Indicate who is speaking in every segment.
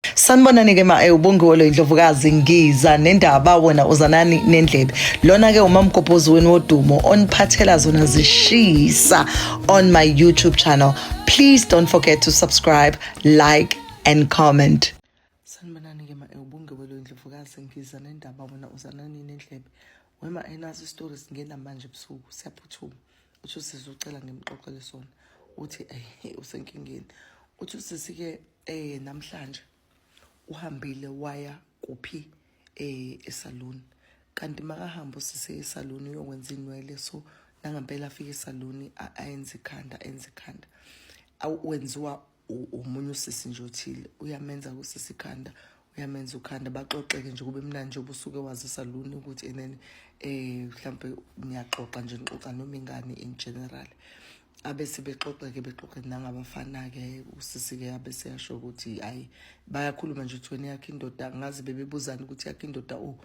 Speaker 1: sanibonani ke ma eh, ubongiwe lo indlovukazi ngiza nendaba wena uzanani nendlebe lona ke umamgobhozi wenu wodumo oniphathela zona zishisa on my youtube channel please don't forget to subscribe like and comment sanibonani ke ma eh, ubongiwe lo indlovukazi ngiza nendaba wena uzanani nendlebe wema enazo isitori singena manje ebusuku siyaphuthuma uthi usizocela ngimxoxele sona uthi eh usenkingeni uthi usisi-ke eh namhlanje uhambile waya kuphi eh esaluni kanti makahamba usise esaluni uyokwenza inwele so nangampela afike esaluni ayenze ikhanda enze ikhanda wenziwa umunye usisi nje othile uyamenza kusisi ikhanda uyamenza ukhanda baxoxeke nje kube mnandi njengoba usuke wazisa luni ukuthi and then um mhlawumbe niyaxoxa nje nixoxa noma ingane in general abese bexoxeke bexoxe nangabafana-ke usisi-ke abese yasho ukuthi hhayi bayakhuluma nje ukuthi wena yakho indoda ngazi bebebuzani ukuthi yakho indoda o oh,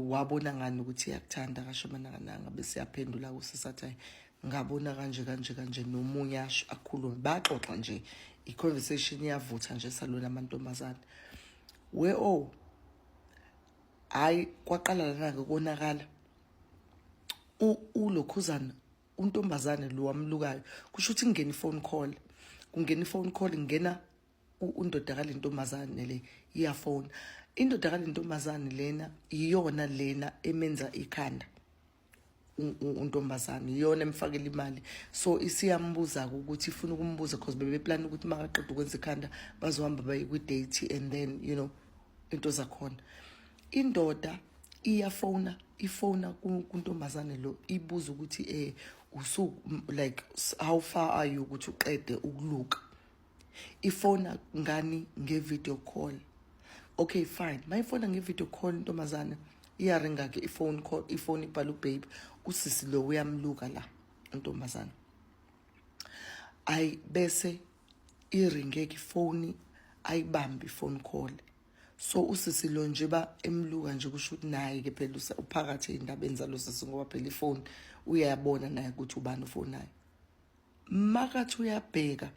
Speaker 1: wabona ngani ukuthi iyakuthanda kasho manakananga bese yaphendula kusisi athi hayi ngabona kanje kanje kanje nomunye asho akhulume baxoxa nje i-conversation iyavutha nje salona amantombazane we o oh, hhayi kwaqala lana-ke konakala ulokhuzana untombazane lo wamlukayo kusho ukuthi kungena i-phone call kungena i-phone call kungena undoda kale ntombazane le iyafona indoda kale ntombazane lena iyona lena emenza ikhanda untombazane iyona emfakela imali so isiyambuza-ke ukuthi ifuna ukumbuza because bebeplana ukuthi makaqeda ukwenza ikhanda bazohamba baye kwi-date and then you know into zakhona indoda iyafona ifona kuntombazane lo ibuza ukuthi eh usuku like how far are you ukuthi uqede ukuluka ifona ngani nge-video call okay fine mayifona nge-video call intombazane iyaringa ke ifone call ifone ibhala ubabe usisi lo uyamluka la intombazane ayi bese iringe ke ifoni ayibambi ifone call so usisi lo nje ba emluka nje kusho ukuthi naye ke phela uphakathi endabeni zalosisi ngoba phela ifoni uyayabona naye ukuthi ubani ufonayo makathi uyabheka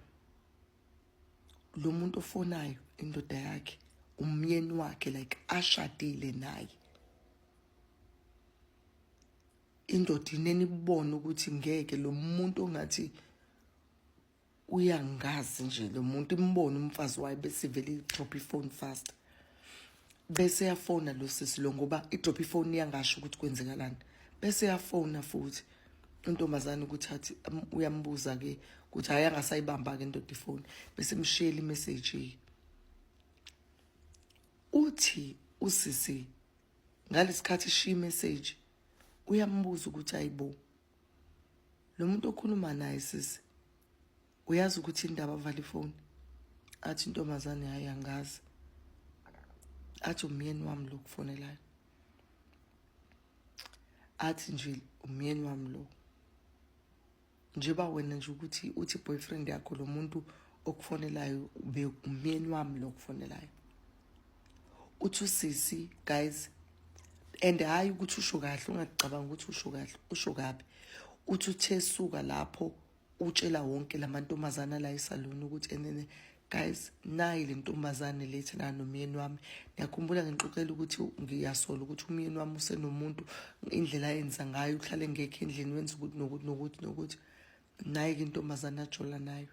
Speaker 1: lo muntu ofonayo indoda yakhe umyeni wakhe like ashadile naye indoda ineni kubona ukuthi ngeke lo muntu ongathi uyangazi nje lo muntu imbona umfazi wayo bese ivele idrop ifone fast bese yafona lo sisi lo ngoba idrop ifoni yangasho ukuthi kwenzekalani bese yafona futhi intombazane ukuthi athi um, uyambuza ke ukuthi hayi angasayibamba ke indoda ifoni bese mshiyela imessage uthi usisi ngalesikhathi shiya imessage uyambuza ukuthi ayibo lo muntu okhuluma naye sisi uyazi ukuthi indaba avala ifoni athi intombazane hayi angazi athi umyeni wami lo kufonelayo athi nje umyeni wami lo njengoba wena nje ukuthi uthi boyfriend yakho lo muntu okufonelayo ube umyeni wami lo kufonelayo uthi usisi guys and hhayi ukuthi usho kahle ungacabanga ukuthi usho kahle usho kabi uthi uthe suka lapho utshela wonke lamantombazana la esaluni ukuthi enene guys nayi le ntombazane lethi na nomyeni wami ngiyakhumbula ngixoxela ukuthi ngiyasola ukuthi umyeni wami usenomuntu indlela ayenza ngayo uhlale ngekho endlini wenza ukuthi nokuthi nokuthi nokuthi nayi ke intombazane ajola nayo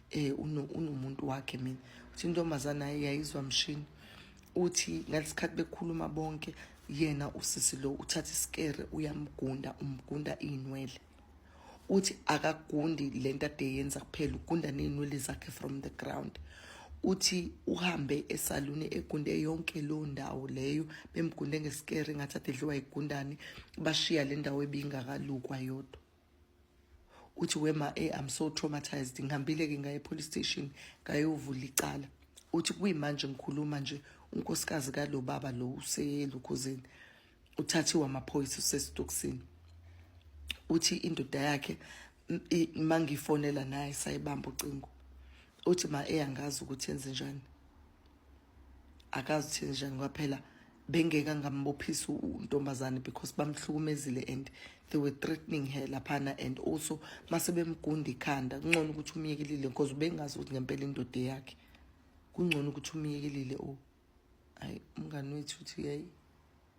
Speaker 1: eh unomuntu wakhe mina uthi intombazana yayizwa mshini uthi ngalesikhathi bekhuluma bonke yena usisi lo uthatha isikere uyamgunda umgunda inwele uthi akagundi lento ade yenza kuphela ugunda nezinwele zakhe from the ground uthi uhambe esaluni egunde yonke lo ndawo leyo bemgunde ngesikere ngathi ade dliwa igundane bashiya le ndawo ebingakalukwa yodwa uthi wema e I'm so traumatized ngihambile ke ngaye police station ngayovula icala uthi kuyimanje ngikhuluma nje unkosikazi kalo baba lo uselukhuzeni uthathiwa amaphoyisa usesitokisini uthi indoda yakhe mangifonela naye sayibamba ucingo uthi ma eyangazi ukuthi yenze njani akazi thini njani kwaphela bengeka ngambophisa untombazane because bamhlukumezile and they were threatening her laphana and also mase bemgunda ikhanda kungcono ukuthi umyekelile because ubengazi ukuthi ngempela indoda yakhe kungcono ukuthi umyekelile o oh. hayi umngani wethu uthi yayi